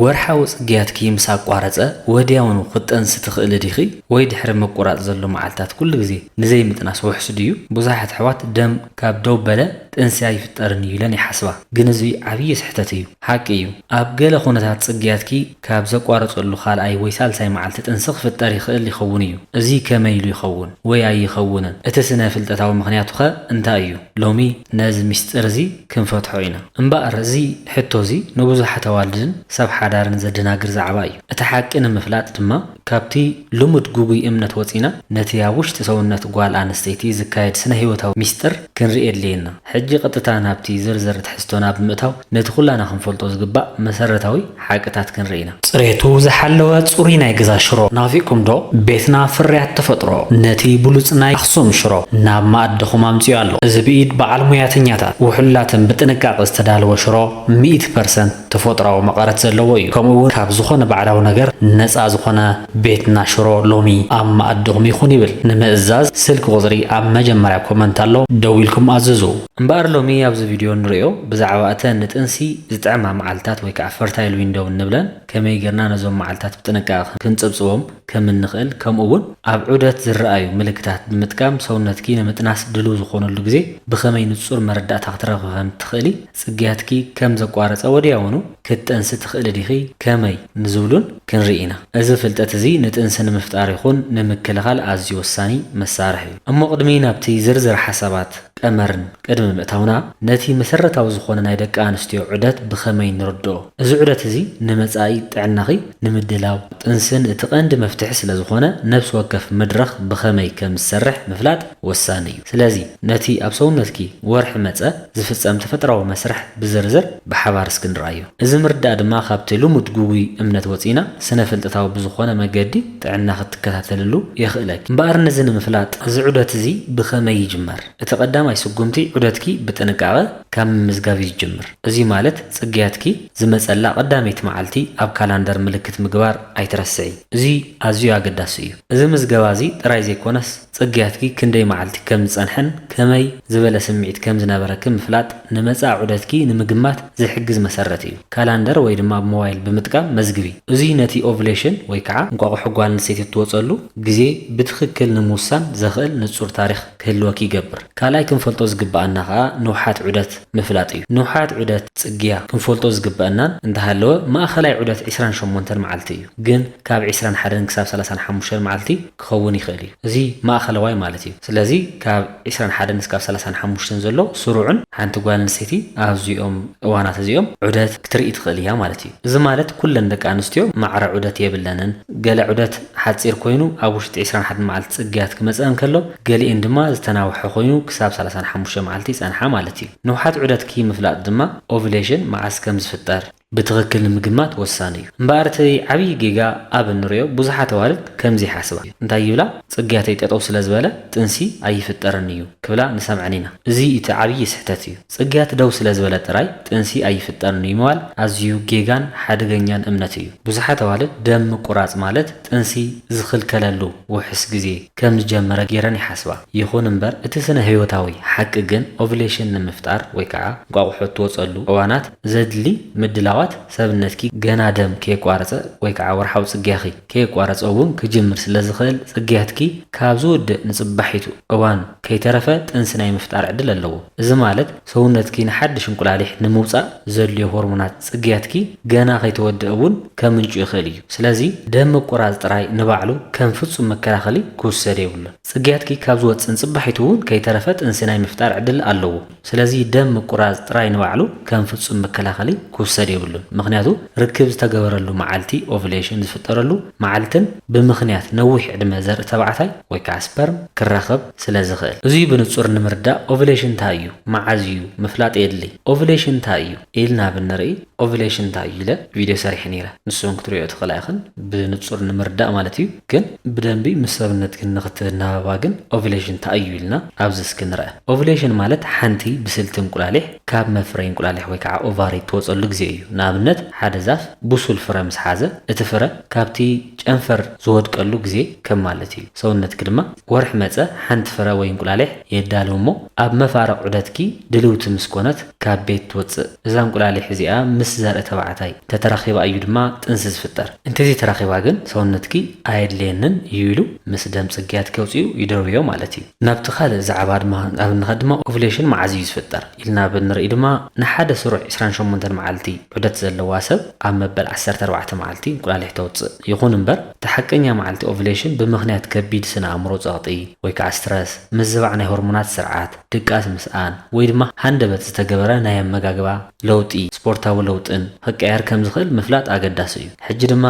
ወርሓዊ ጽግያትኪ ምስ ኣቋረጸ ወድያውኑ ክትጠንሲ ትኽእሊ ዲኺ? ወይ ድሕሪ ምቁራጽ ዘሎ መዓልታት ኩሉ ግዜ ንዘይምጥናስ ውሑስ ድዩ? ብዙሓት ኣሕዋት ደም ካብ ደው በለ ጥንሲ ኣይፍጠርን እዩ ኢለን ይሓስባ፣ ግን እዚ ዓብዪ ስሕተት እዩ። ሓቂ እዩ፣ ኣብ ገለ ኵነታት ጽግያትኪ ካብ ዘቋረጸሉ ካልኣይ ወይ ሳልሳይ መዓልቲ ጥንሲ ክፍጠር ይኽእል ይኸውን እዩ። እዚ ከመይ ኢሉ ይኸውን ወይ ኣይኸውንን? እቲ ስነ-ፍልጠታዊ ምኽንያቱኸ እንታይ እዩ? ሎሚ ነዚ ምስጢር እዚ ክንፈትሖ ኢና። እምበኣር እዚ ሕቶ እዚ ንብዙሓት ኣዋልድን ሰብ ሓዳርን ዘደናግር ዛዕባ እዩ። እቲ ሓቂ ንምፍላጥ ድማ ካብቲ ልሙድ ግጉይ እምነት ወጺና ነቲ ኣብ ውሽጢ ሰውነት ጓል ኣንስተይቲ ዝካየድ ስነ ህይወታዊ ሚስጥር ክንርኢ የድልየና። ሕጂ ቀጥታ ናብቲ ዝርዝር ትሕዝቶና ብምእታው ነቲ ኩላና ክንፈልጦ ዝግባእ መሰረታዊ ሓቅታት ክንርኢ ኢና። ፅሬቱ ዝሓለወ ፅሩይ ናይ ገዛ ሽሮ ናፊቅኩም ዶ? ቤትና ፍርያት ተፈጥሮ ነቲ ብሉፅ ናይ ኣክሱም ሽሮ ናብ መኣድኹም ኣምፂኡ ኣሎ። እዚ ብኢድ በዓል ሙያተኛታት ውሕሉላትን ብጥንቃቀ ዝተዳለወ ሽሮ ሚእቲ ፐርሰንት ተፎጥራዊ መቐረት ዘለዎ እዩ። ከምኡ እውን ካብ ዝኾነ ባዕዳዊ ነገር ነፃ ዝኾነ ቤትና ሽሮ ሎሚ ኣብ መኣድኹም ይኹን ይብል። ንምእዛዝ ስልኪ ቁፅሪ ኣብ መጀመርያ ኮመንት ኣሎ ደዊልኩም ኣዝዙ። እምበኣር ሎሚ ኣብዚ ቪድዮ እንርእዮ ብዛዕባ እተን ንጥንሲ ዝጥዕማ መዓልታት ወይ ከኣ ፈርታይል ዊንዶው እንብለን ከመይ ጌርና ነዞም መዓልታት ብጥንቃቐ ክንጽብጽቦም ከም እንኽእል ከምኡ ውን ኣብ ዑደት ዝረኣዩ ምልክታት ብምጥቃም ሰውነትኪ ንምጥናስ ድሉው ዝኾነሉ ግዜ ብኸመይ ንጹር መረዳእታ ክትረኽቢ ከም እትኽእሊ ጽግያትኪ ከም ዘቋረጸ ወዲያውኑ ክትጠንሲ ትኽእሊ ዲኺ ከመይ ንዝብሉን ክንርኢ ኢና። እዚ ፍልጠት እዚ ንጥንሲ ንምፍጣር ይኹን ንምክልኻል ኣዝዩ ወሳኒ መሳርሒ እዩ። እሞ ቅድሚ ናብቲ ዝርዝር ሓሳባት። ቀመርን ቅድሚ ምእታውና፣ ነቲ መሰረታዊ ዝኾነ ናይ ደቂ ኣንስትዮ ዑደት ብኸመይ ንርድኦ? እዚ ዑደት እዚ ንመጻኢ ጥዕናኺ ንምድላው፣ ጥንስን እቲ ቀንዲ መፍትሒ ስለ ዝኾነ፣ ነብሲ ወከፍ መድረኽ ብኸመይ ከም ዝሰርሕ ምፍላጥ ወሳኒ እዩ። ስለዚ ነቲ ኣብ ሰውነትኪ ወርሒ መጸ ዝፍጸም ተፈጥራዊ መስርሕ ብዝርዝር ብሓባር እስኪ ንርኣዮ። እዚ ምርዳእ ድማ ካብቲ ልሙድ ግጉይ እምነት ወጺእና ስነ-ፍልጠታዊ ብዝኾነ መገዲ፣ ጥዕና ክትከታተልሉ የኽእለኪ። እምበኣር ነዚ ንምፍላጥ እዚ ዑደት እዚ ብኸመይ ይጅመር? እቲ ቀዳማይ ስጉምቲ ዑደትኪ ብጥንቃቐ ካብ ምምዝጋብ እዩ ዝጅምር። እዙይ ማለት ፅግያትኪ ዝመፀላ ቀዳመይቲ መዓልቲ ኣብ ካላንደር ምልክት ምግባር ኣይትረስዒ። እዙይ ኣዝዩ ኣገዳሲ እዩ። እዚ ምዝገባ እዚ ጥራይ ዘይኮነስ፣ ጽግያትኪ ክንደይ መዓልቲ ከም ዝጸንሐን ከመይ ዝበለ ስምዒት ከም ዝነበረኪ ምፍላጥ ንመጻኢ ዑደትኪ ንምግማት ዝሕግዝ መሰረት እዩ። ካላንደር ወይ ድማ ኣብ ሞባይል ብምጥቃም መዝግቢ። እዙይ ነቲ ኦቭሌሽን ወይ ከዓ እንቋቑሖ ጓል ኣንስተይቲ እትወፀሉ ግዜ ብትኽክል ንምውሳን ዘኽእል ንፁር ታሪኽ ክህልወኪ ይገብር። ካልኣይ ክንፈልጦ ዝግበኣና ከዓ ንውሓት ዑደት ምፍላጥ እዩ። ንውሓት ዑደት፣ ጽግያ፣ ክንፈልጦ ዝግበኣናን እንተሃለወ ማእኸላይ ዑደት ዕስራን ሸሞንተን መዓልቲ እዩ። ግን ካብ ዕስራን ሓደን ክሳብ ሰላሳን ሓሙሽተን መዓልቲ ክኸውን ይኽእል እዩ። እዚ ማእኸለዋይ ማለት እዩ። ስለዚ ካብ ዕስራን ሓደን እስካብ ሰላሳን ሓሙሽተን ዘሎ ስሩዕን ሓንቲ ጓል ኣንስተይቲ ኣብዚኦም እዋናት እዚኦም ዑደት ክትርኢ ትኽእል እያ ማለት እዩ። እዚ ማለት ኩለን ደቂ ኣንስትዮ ማዕረ ዑደት የብለንን። ገለ ዑደት ሓፂር ኮይኑ ኣብ ውሽጢ ዕስራን ሓደን መዓልቲ ፅግያት ክመፅእን ከሎ ገሊኤን ድማ ዝተናውሐ ኮይኑ ክሳብ ሰላሳን ሓሙሽተን መዓልቲ ይፀንሓ ማለት እዩ። ንውሓት ዑደትኪ ምፍላጥ ድማ፣ Ovulation፣ መዓዝ ከም ዝፍጠር፣ ብትክክል ንምግማት ወሳኒ እዩ እምበኣር እቲ ዓብይ ጌጋ ኣብ እንሪኦ ብዙሓት ኣዋልድ ከምዚ ይሓስባ እንታይ ይብላ ፅግያተይ ጠጠው ስለዝበለ ጥንሲ ኣይፍጠርን እዩ ክብላ ንሰምዐን ኢና እዙይ እቲ ዓብይ ስሕተት እዩ ፅግያት ደው ስለዝበለ ጥራይ ጥንሲ ኣይፍጠርን እዩ ምባል ኣዝዩ ጌጋን ሓደገኛን እምነት እዩ ብዙሓት ኣዋልድ ደም ምቁራፅ ማለት ጥንሲ ዝኽልከለሉ ውሑስ ግዜ ከም ዝጀመረ ገይረን ይሓስባ። ይኹን እምበር እቲ ስነ ህይወታዊ ሓቂ ግን ኦቭሌሽን ንምፍጣር ወይ ከዓ እንቋቑሖ እትወፀሉ እዋናት ዘድሊ ምድላዋት ሰብነትኪ ገና ደም ከየቋረፀ ወይ ከዓ ወርሓዊ ፅግያኺ ከየቋረፀ እውን ክጅምር ስለ ዝኽእል ፅግያትኪ ካብ ዝውድእ ንፅባሒቱ እዋን ከይተረፈ ጥንሲ ናይ ምፍጣር ዕድል ኣለዎ። እዚ ማለት ሰውነትኪ ንሓድሽ እንቁላሊሕ ንምውጻእ ዘድልዮ ሆርሞናት ጽግያትኪ ገና ከይተወድኣ እውን ከምንጩ ይኽእል እዩ። ስለዚ ደም ምቁራጽ ጥራይ ንባዕሉ ከም ፍጹም መከላኸሊ ክውሰድ የብሉን። ጽግያትኪ ካብ ዝወጽእ ንጽባሒቱ እውን ከይተረፈ ጥንሲ ናይ ምፍጣር ዕድል ኣለዎ። ስለዚ ደም ምቁራጽ ጥራይ ንባዕሉ ከም ፍጹም መከላኸሊ ክውሰድ የብሉን። ምኽንያቱ ርክብ ዝተገበረሉ መዓልቲ፣ ኦቭሌሽን፣ ዝፍጠረሉ መዓልትን ብምኽንያት ነዊሕ ዕድመ ዘርኢ ተባዕታይ ወይ ከዓ ስፐርም ክራኸብ፣ ስለ ዝኽእል። እዙይ ብንፁር ንምርዳእ ኦቭሌሽን ታይ እዩ? መዓዝ እዩ? ምፍላጥ የድልይ። ኦቭሌሽን ታይ እዩ? ኢልና ብንርኢ ኦቭሌሽን ታይ እዩ? ኢለ ቪድዮ ሰሪሐ ነይረ። ንሱ እውን ክትሪኦ ትኽእላ ኢኽን ብንፁር ንምርዳእ ማለት እዩ። ግን ብደንቢ ምስ ሰብነትክን ንኽትናበባ ግን ኦቭሌሽን ታይ እዩ? ኢልና ኣብዚ እስኪ ንርኣ። ኦቭሌሽን ማለት ሓንቲ ብስልቲ እንቁላሊሕ ካብ መፍረዪ እንቁላሊሕ ወይ ከዓ ኦቫሪ እትወፀሉ ግዜ እዩ። ንኣብነት ሓደ ዛፍ ብሱል ፍረ ምስ ሓዘ እቲ ፍረ ካብቲ ጨንፈር ዝወድቀሉ ግዜ ከም ማለት እዩ። ሰውነትኪ ድማ ወርሒ መጸ ሓንቲ ፍረ ወይ እንቁላሊሕ የዳሉ እሞ ኣብ መፋርቕ ዑደትኪ ድልውቲ ምስ ኮነት ካብ ቤት ትወጽእ። እዛ እንቁላሊሕ እዚኣ ምስ ዘርኢ ተባዕታይ እንተተራኺባ እዩ ድማ ጥንሲ ዝፍጠር። እንተዘይተራኺባ ግን ሰውነትኪ ኣየድልየንን እዩ ኢሉ ምስ ደም ጽግያትኪ ኣውጺኡ ይደርብዮ ማለት እዩ። ናብቲ ካልእ ዛዕባ ድማ ኣብ እንኸድ ድማ ኦቭሌሽን መዓዝ እዩ ዝፍጠር ኢልና ኣብ እንርኢ ድማ ንሓደ ስሩዕ ዕስራን ሸሞንተን መዓልቲ ዑደት ዘለዋ ሰብ ኣብ መበል ዓሰርተ ኣርባዕተ መዓልቲ እንቁላሊሕ ተውጽእ። ይኹን እምበር። እቲ ሓቀኛ መዓልቲ ኦቭሌሽን ብምኽንያት ከቢድ ስነ-ኣእምሮ ጸቕጢ ወይ ከኣ ስትረስ፣ ምዝባዕ ናይ ሆርሞናት ስርዓት፣ ድቃስ ምስኣን፣ ወይ ድማ ሃንደበት ዝተገበረ ናይ ኣመጋግባ ለውጢ፣ ስፖርታዊ ለውጥን ኽቀያየር ከም ዝኽእል ምፍላጥ ኣገዳሲ እዩ። ሕጂ ድማ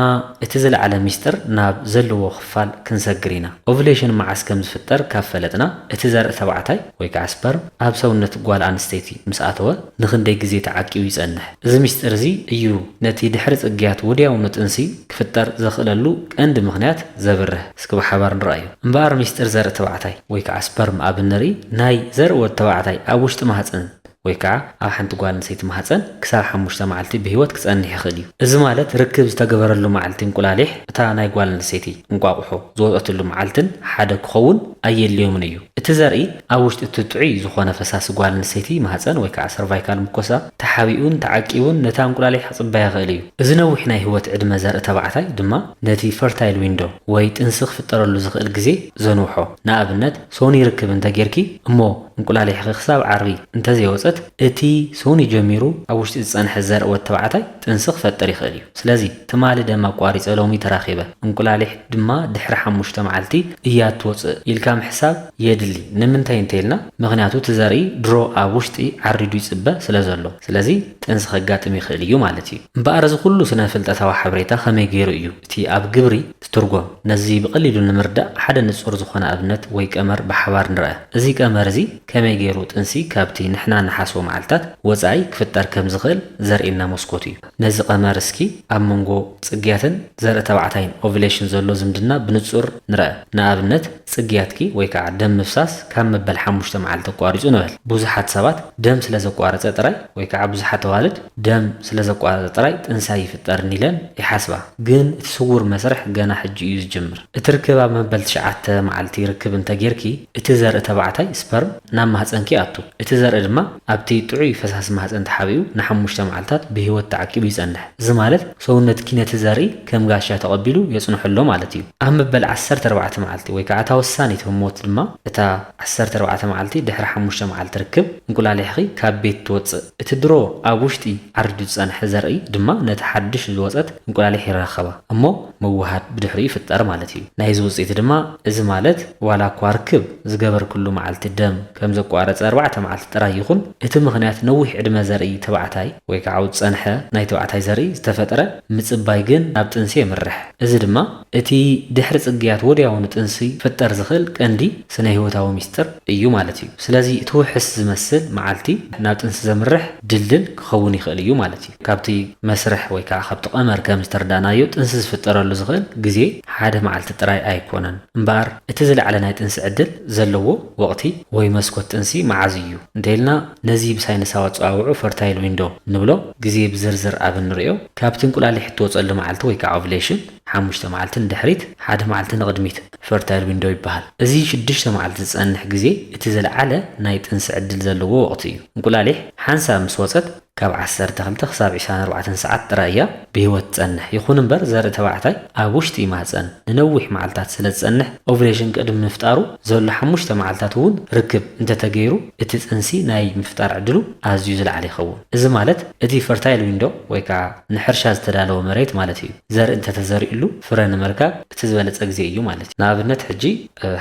እቲ ዝለዓለ ሚስጥር ናብ ዘለዎ ክፋል ክንሰግር ኢና። ኦቭሌሽን መዓስ ከም ዝፍጠር ካብ ፈለጥና፣ እቲ ዘርኢ ተባዕታይ ወይ ከኣ ስፐርም ኣብ ሰውነት ጓል ኣንስተይቲ ምስ ኣተወ ንኽንደይ ግዜ ተዓቂቡ ይጸንሕ? እዚ ምስጢር እዚ እዩ ነቲ ድሕሪ ጽግያት ወድያውኑ ጥንሲ ክፍጠር ዘኽእለሉ ቀንዲ ምኽንያት ዘብርህ። እስኪ ብሓባር ንርኣዮ። እምበኣር ምስጢር ዘርኢ ተባዕታይ ወይ ከዓ ስፐርም ኣብ እንርኢ ናይ ዘርኢ ወዲ ተባዕታይ ኣብ ውሽጢ ማህጸን ወይ ከዓ ኣብ ሓንቲ ጓል ኣንሰይቲ ማህጸን ክሳብ ሓሙሽተ መዓልቲ ብህይወት ክጸንሕ ይኽእል እዩ። እዚ ማለት ርክብ ዝተገበረሉ መዓልቲ እንቁላሊሕ እታ ናይ ጓል ኣንሰይቲ፣ እንቋቑሖ፣ ዝወጸትሉ መዓልትን ሓደ ክኸውን ኣየድልዮምን እዩ። እቲ ዘርኢ ኣብ ውሽጢ እቲ ጥዑይ ዝኾነ ፈሳሲ ጓል ኣንሰይቲ ማህጸን ወይ ከዓ ሰርቫይካል ሙኮሳ፣ ተሓቢኡን ተዓቂቡን ነታ እንቁላሊሕ ክጽበያ ይኽእል እዩ። እዚ ነዊሕ ናይ ህይወት ዕድመ ዘርኢ ተባዕታይ ድማ ነቲ ፈርታይል ዊንዶ ወይ ጥንሲ ክፍጠረሉ ዝኽእል ግዜ ዘንውሖ። ንኣብነት ሶኒ ርክብ እንተ ጌርኪ እሞ እንቁላሊሕኺ ክሳብ ዓርቢ እንተ ዘይወጸት እቲ ሶኒ ጀሚሩ ኣብ ውሽጢ ዝጸንሐ ዘርኢ ወድ ተባዕታይ ጥንሲ ክፈጥር ይኽእል እዩ። ስለዚ ትማሊ ደም ኣቋሪጸ ሎሚ ተራኺበ እንቁላሊሕ ድማ ድሕሪ ሓሙሽተ መዓልቲ እያ እትወጽእ ኢልካ ምሕሳብ የድሊ ንምንታይ እንተይልና ምኽንያቱ እቲ ዘርኢ ድሮ ኣብ ውሽጢ ዓሪዱ ይፅበ ስለዘሎ ስለዚ ጥንሲ ከጋጥም ይኽእል እዩ ማለት እዩ እምበኣር እዚ ኩሉ ስነፍልጠታዊ ሓበሬታ ከመይ ገይሩ እዩ እቲ ኣብ ግብሪ ዝትርጎም ነዚ ብቐሊሉ ንምርዳእ ሓደ ንፁር ዝኾነ ኣብነት ወይ ቀመር ብሓባር ንርኣ እዚ ቀመር እዚ ከመይ ገይሩ ጥንሲ ካብቲ ንሕና ንሓስቦ መዓልታት ወፃኢ ክፍጠር ከምዝኽእል ዘርእየና መስኮት እዩ ነዚ ቀመር እስኪ ኣብ መንጎ ጽግያትን ዘርኢ ተባዕታይን፣ Ovulation፣ ዘሎ ዝምድና ብንጹር ንርኣ። ንኣብነት፣ ጽግያትኪ ወይ ከኣ ደም ምፍሳስ ካብ መበል ሓሙሽተ መዓልቲ ኣቋሪጹ ንበል። ብዙሓት ሰባት ደም ስለ ዘቋረጸ ጥራይ ወይ ከኣ ብዙሓት ኣዋልድ ደም ስለ ዘቋረጸ ጥራይ ጥንሲ ኣይፍጠርን ኢለን ይሓስባ። ግን እቲ ስዉር መስርሕ ገና ሕጂ እዩ ዝጅምር። እቲ ርክብ ኣብ መበል ትሽዓተ መዓልቲ ርክብ እንተጌርኪ፣ እቲ ዘርኢ ተባዕታይ፣ ስፐርም፣ ናብ ማህጸንኪ ይኣቱ። እቲ ዘርኢ ድማ ኣብቲ ጥዑይ ፈሳሲ ማህጸን ተሓቢኡ ንሓሙሽተ መዓልታት ብህይወት ተዓቂቡ ይጸንሕ። እዚ ማለት ሰውነትኪ ነቲ ዘርኢ ከም ጋሻ ተቐቢሉ የጽንሖ ኣሎ ማለት እዩ። ኣብ መበል ዓሰርተ ኣርባዕተ መዓልቲ ወይ ከኣ እታ ወሳኒት ህሞት ድማ፣ እታ ዓሰርተ ኣርባዕተ መዓልቲ ድሕሪ ሓሙሽተ መዓልቲ ርክብ፣ እንቁላሊሕኺ ካብ ቤት ትወጽእ። እቲ ድሮ ኣብ ውሽጢ ዓሪዱ ዝጸንሐ ዘርኢ ድማ ነታ ሓድሽ ዝወጸት እንቁላሊሕ ይራኸባ እሞ፣ ምውሃድ ብድሕሪኡ ይፍጠር ማለት እዩ። ናይዚ ውጽኢት ድማ እዚ ማለት ዋላ እኳ ርክብ ዝገበርክሉ መዓልቲ ደም ከም ዘቋረጸ ኣርባዕተ መዓልቲ ጥራይ ይኹን እቲ ምኽንያት ነዊሕ ዕድመ ዘርኢ ተባዕታይ ወይ ከኣ ኣብ ዝጸንሐ ናይ ተባዕታይ ዘርኢ ዝተፈጥረ ምጽባይ ግን ናብ ጥንሲ የምርሕ። እዚ ድማ እቲ ድሕሪ ጽግያት ወድያውኑ ጥንሲ ክፍጠር ዝኽእል ቀንዲ ስነህይወታዊ ሚስጥር እዩ ማለት እዩ። ስለዚ እቲ ውሕስ ዝመስል መዓልቲ ናብ ጥንሲ ዘምርሕ ድልድል ክኸውን ይኽእል እዩ ማለት እዩ። ካብቲ መስርሕ ወይ ከኣ ካብቲ ቀመር ከም ዝተርዳእናዮ ጥንሲ ዝፍጠረሉ ዝኽእል ግዜ ሓደ መዓልቲ ጥራይ ኣይኮነን። እምበኣር እቲ ዝለዓለ ናይ ጥንሲ ዕድል ዘለዎ ወቕቲ ወይ መስኮት ጥንሲ መዓዝ እዩ እንተኢልና ነዚ ብሳይንሳዊ ኣጸዋውዑ ፈርታይል ዊንዶ እንብሎ ግዜ ብዝርዝር ኣብ እንርእዮ ካብቲ እንቁላሊሕ እትወጸሉ መዓልቲ ወይ ከኣ ኦቭሌሽን ሓሙሽተ መዓልቲ ንድሕሪት ሓደ መዓልቲ ንቕድሚት ፈርታይል ዊንዶ ይበሃል። እዚ ሽዱሽተ መዓልቲ ዝጸንሕ ግዜ እቲ ዝለዓለ ናይ ጥንሲ ዕድል ዘለዎ ወቕቲ እዩ። እንቁላሊሕ ሓንሳብ ምስ ወጸት ካብ ዓሰርተ ክልተ ክሳብ ዕስራን ኣርባዕተን ሰዓት ጥራይ እያ ብህይወት ትጸንሕ። ይኹን እምበር ዘርኢ ተባዕታይ ኣብ ውሽጢ ማህጸን ንነዊሕ መዓልታት ስለ ዝጸንሕ፣ ኦቭሌሽን ቅድሚ ምፍጣሩ ዘሎ ሓሙሽተ መዓልታት እውን ርክብ እንተ ተገይሩ እቲ ጥንሲ ናይ ምፍጣር ዕድሉ ኣዝዩ ዝለዓለ ይኸውን። እዚ ማለት እቲ ፈርታይል ዊንዶ ወይ ከኣ ንሕርሻ ዝተዳለወ መሬት ማለት እዩ። ዘርኢ እንተ ተዘሪኡሉ ፍረ ንምርካብ እቲ ዝበለጸ ግዜ እዩ ማለት እዩ። ንኣብነት ሕጂ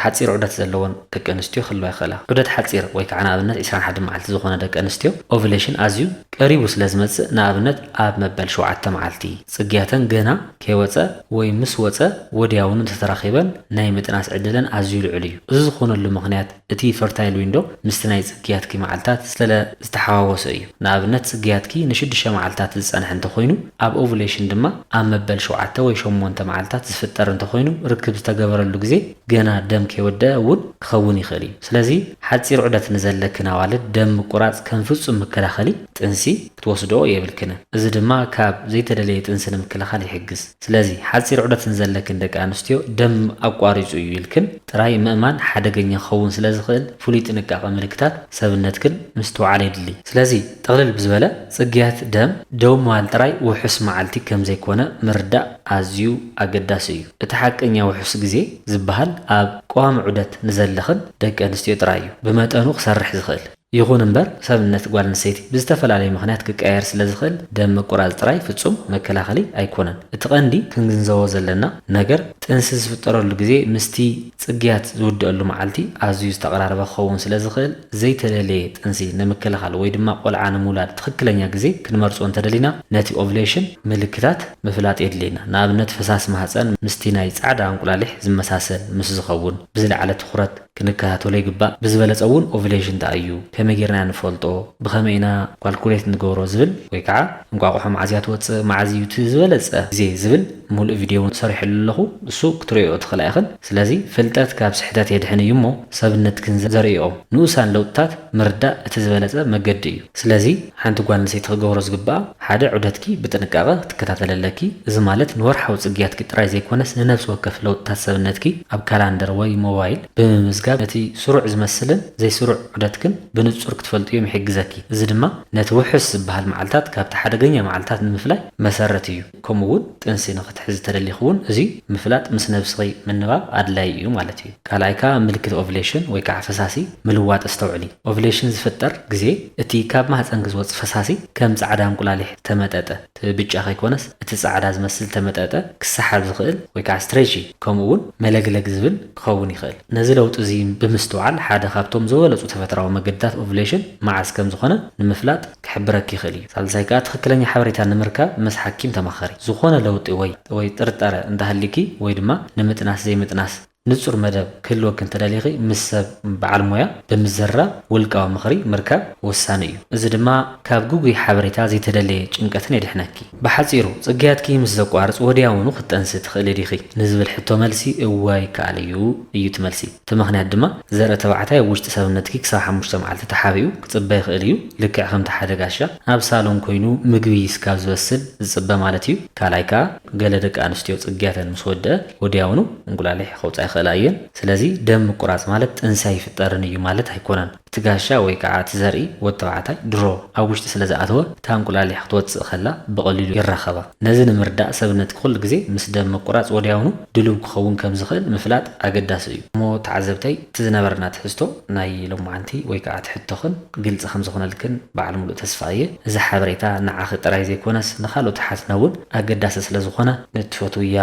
ሓጺር ዑደት ዘለወን ደቂ ኣንስትዮ ክህልዋ ይኽእላ። ዑደት ሓጺር ወይ ከኣ ንኣብነት ዕስራን ሓደን መዓልቲ ዝኾነ ደቂ ኣንስትዮ ኦቭለሽን ኣዝዩ ቀሪቡ ስለ ዝመጽእ ንኣብነት ኣብ መበል ሸውዓተ መዓልቲ ጽግያተን ገና ከይወጸ ወይ ምስ ወጸ ወድያውኑ እንተ ተራኺበን ናይ ምጥናስ ዕድለን ኣዝዩ ልዑል እዩ። እዚ ዝኾነሉ ምኽንያት እቲ ፈርታይል ዊንዶ ምስቲ ናይ ጽግያትኪ መዓልታት ስለ ዝተሓዋወሰ እዩ። ንኣብነት ጽግያትኪ ንሽዱሽተ መዓልታት ዝጸንሐ እንተ ኮይኑ ኣብ ኦቭለሽን ድማ ኣብ መበል ሸውዓተ ወይ ሸሞንተ መዓልታት ዝፍጠር እንተኾይኑ ርክብ ዝተገበረሉ ግዜ ገና ደም ከይወደኣ እውን ክኸውን ይኽእል እዩ። ስለዚ ሓጺር ዑደት ንዘለክን ኣዋልድ ደም ምቁራጽ ከም ፍጹም መከላኸሊ ጥንሲ ክትወስድኦ የብልክን። እዚ ድማ ካብ ዘይተደለየ ጥንሲ ንምክልኻል ይሕግዝ። ስለዚ ሓጺር ዑደት ንዘለክን ደቂ ኣንስትዮ ደም ኣቋሪጹ እዩ ኢልክን ጥራይ ምእማን ሓደገኛ ክኸውን ስለዝኽእል ፍሉይ ጥንቃቐ ምልክታት ሰብነትክን ምስትውዓል የድሊ። ስለዚ ጥቕልል ብዝበለ። ጽግያት ደም ደው ምባል ጥራይ ውሑስ መዓልቲ ከም ዘይኰነ ምርዳእ ኣዝዩ ኣገዳሲ እዩ። እቲ ሓቀኛ ውሑስ ግዜ ዝበሃል ኣብ ቀዋሚ ዑደት ንዘለኽን ደቂ ኣንስትዮ ጥራይ እዩ ብመጠኑ ክሰርሕ ዝኽእል። ይኹን እምበር ሰብነት ጓል ኣንስተይቲ ብዝተፈላለየ ምኽንያት ክቀያየር ስለ ዝኽእል ደም ምቁራጽ ጥራይ ፍጹም መከላኸሊ ኣይኰነን። እቲ ቀንዲ ክንግንዘቦ ዘለና ነገር ጥንሲ ዝፍጠረሉ ግዜ ምስቲ ጽግያት ዝውድኣሉ መዓልቲ ኣዝዩ ዝተቐራረበ ክኸውን ስለ ዝኽእል፣ ዘይተደልየ ጥንሲ ንምክልኻል ወይ ድማ ቆልዓ ንምውላድ ትኽክለኛ ግዜ ክንመርጾ እንተደሊና ነቲ ኦቭሌሽን ምልክታት ምፍላጥ የድልየና። ንኣብነት ፈሳሲ ማህጸን ምስቲ ናይ ጻዕዳ እንቁላሊሕ ዝመሳሰል ምስ ዝኸውን ብዝለዓለ ትኹረት ክንከታተሎ ይግባእ። ብዝበለጸ እውን ኦቭሌሽን እንታይ እዩ? ከመይ ጌርና ኢና ንፈልጦ? ብኸመይ ኢና ኳልኩሌት ንገብሮ? ዝብል ወይ ከዓ እንቋቑሖ መዓዝ እያ ትወጽእ? መዓዝ እዩ እቲ ዝበለጸ ግዜ? ዝብል ምሉእ ቪድዮ እውን ሰሪሐሉ ኣለኹ እሱ ክትርእይኦ ትኽእላ ኢኽን። ስለዚ ፍልጠት ካብ ስሕተት የድሕን እዩ እሞ። ሰብነትክን ዘርእይኦ ንኡሳን ለውጥታት ምርዳእ እቲ ዝበለጸ መገዲ እዩ። ስለዚ ሓንቲ ጓል ኣንስተይቲ ክገብሮ ዝግብኣ ሓደ ዑደትኪ ብጥንቃቐ ክትከታተሊ ኣለኪ፣ እዚ ማለት ንወርሓዊ ጽግያትኪ ጥራይ ዘይኮነስ ንነብሲ ወከፍ ለውጥታት ሰብነትኪ ኣብ ካላንደር ወይ ሞባይል ብምምዝጋብ ነቲ ስሩዕ ዝመስልን ዘይስሩዕ ዑደትክን ብንጹር ክትፈልጥዮም ይሕግዘኪ፣ እዚ ድማ ነቲ ውሑስ ዝበሃል መዓልታት ካብቲ ሓደገኛ መዓልታት ንምፍላይ መሰረት እዩ። ከምኡ እውን ጥንሲ ንክትሕዚ ተደሊኪ እውን እዚ ምፍላጥ ምስ ነብስኪ ምንባብ ኣድላይ እዩ ማለት እዩ። ካልኣይ ከኣ ኣብ ምልክት ኦቭሌሽን ወይ ከኣ ፈሳሲ ምልዋጥ ኣስተውዕሊ። ኦቭሌሽን ዝፍጠር ግዜ እቲ ካብ ማህጸንኪ ዝወጽእ ፈሳሲ ከም ጻዕዳ እንቁላሊሕ ዝተመጠጠ፣ እቲ ብጫ ከይኮነስ እቲ ጻዕዳ ዝመስል ዝተመጠጠ፣ ክሰሓብ ዝክእል ወይ ከኣ ስትሬቺ ከምኡ እውን መለግለግ ዝብል ክኸውን ይክእል። ነዚ ለውጢ እዚ ብምስትውዓል ሓደ ካብቶም ዝበለጹ ተፈጥራዊ መገድታት ኦቭሌሽን መዓዝ ከም ዝኮነ ንምፍላጥ፣ ክሕብረኪ ይኽእል እዩ። ሳልሳይ ከኣ ትኽክለኛ ሓበሬታ ንምርካብ ምስ ሓኪም ተማኸሪ። ዝኾነ ለውጢ ወይ ወይ ጥርጣረ እንተሃልዩኪ ወይ ድማ ንምጥናስ ዘይምጥናስ ንጹር መደብ ክህልወኪ እንተደሊኺ ምስ ሰብ በዓል ሞያ ብምዝርራብ ውልቃዊ ምኽሪ ምርካብ ወሳኒ እዩ። እዚ ድማ ካብ ግጉይ ሓበሬታ ዘይተደለየ ጭንቀትን የድሕነኪ። ብሓጺሩ ጽግያትኪ ምስ ዘቋርጽ ወዲያውኑ ክትጠንሲ ትኽእሊ ዲኺ? ንዝብል ሕቶ መልሲ እወ ይከኣል እዩ እዩ እቲ መልሲ። እቲ ምኽንያት ድማ ዘርኢ ተባዕታይ ኣብ ውሽጢ ሰብነትኪ ክሳብ ሓሙሽተ መዓልቲ ተሓቢኡ ክጽበ ይኽእል እዩ፣ ልክዕ ከምቲ ሓደ ጋሻ ኣብ ሳሎን ኮይኑ ምግቢ ስካብ ዝበስል ዝጽበ ማለት እዩ። ካልኣይ ከኣ ገለ ደቂ ኣንስትዮ ጽግያተን ምስ ወድኣ ወድያውኑ እንቁላሊሕ ከውጽኣ ይኽእላ እየን። ስለዚ ደም ምቁራጽ ማለት ጥንሲ ኣይፍጠርን እዩ ማለት ኣይኮነን። እቲ ጋሻ ወይ ከዓ እቲ ዘርኢ ወዲ ተባዕታይ ድሮ ኣብ ውሽጢ ስለ ዝኣተወ እታ እንቁላሊሕ ክትወፅእ ከላ ብቐሊሉ ይራኸባ። ነዚ ንምርዳእ ሰብነትኪ ኩሉ ግዜ ምስ ደም ምቁራፅ ወዲያውኑ ድልው ክኸውን ከም ዝኽእል ምፍላጥ ኣገዳሲ እዩ። እሞ ተዓዘብተይ እቲ ዝነበረና ትሕዝቶ ናይ ሎማዓንቲ ወይ ከዓ እቲ ሕቶኽን ግልፂ ከም ዝኾነልክን በዓል ሙሉእ ተስፋ እየ። እዚ ሓበሬታ ንዓኺ ጥራይ ዘይኮነስ ንኻልኦት ኣሓትና እውን ኣገዳሲ ስለ ዝኾነ ንእትፈትውያ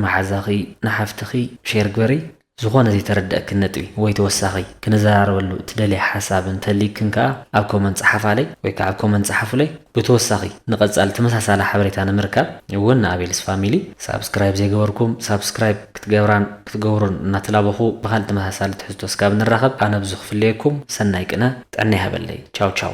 መሓዛኺ፣ ንሓፍትኺ፣ ሼር ግበርይ። ዝኾነ ዘይተረደኣክን ነጥቢ ወይ ተወሳኺ ክንዘራረበሉ እትደልያ ሓሳብ እንተልዩክን ከኣ ኣብ ኮመንት ጸሓፋለይ ወይ ከኣ ኣብ ኮመንት ጸሓፉለይ። ብተወሳኺ ንቐጻሊ ተመሳሳሊ ሓበሬታ ንምርካብ እውን ንኣቤልስ ፋሚሊ ሳብስክራይብ ዘይገበርኩም ሳብስክራይብ ክትገብራን ክትገብሩን እናተላበኹ ብኻልእ ተመሳሳሊ ትሕዝቶ እስካብ ንራኸብ ኣነ ብዙ ክፍለየኩም ሰናይ ቅነ ጥዕና ይሃበለይ ቻው ቻው።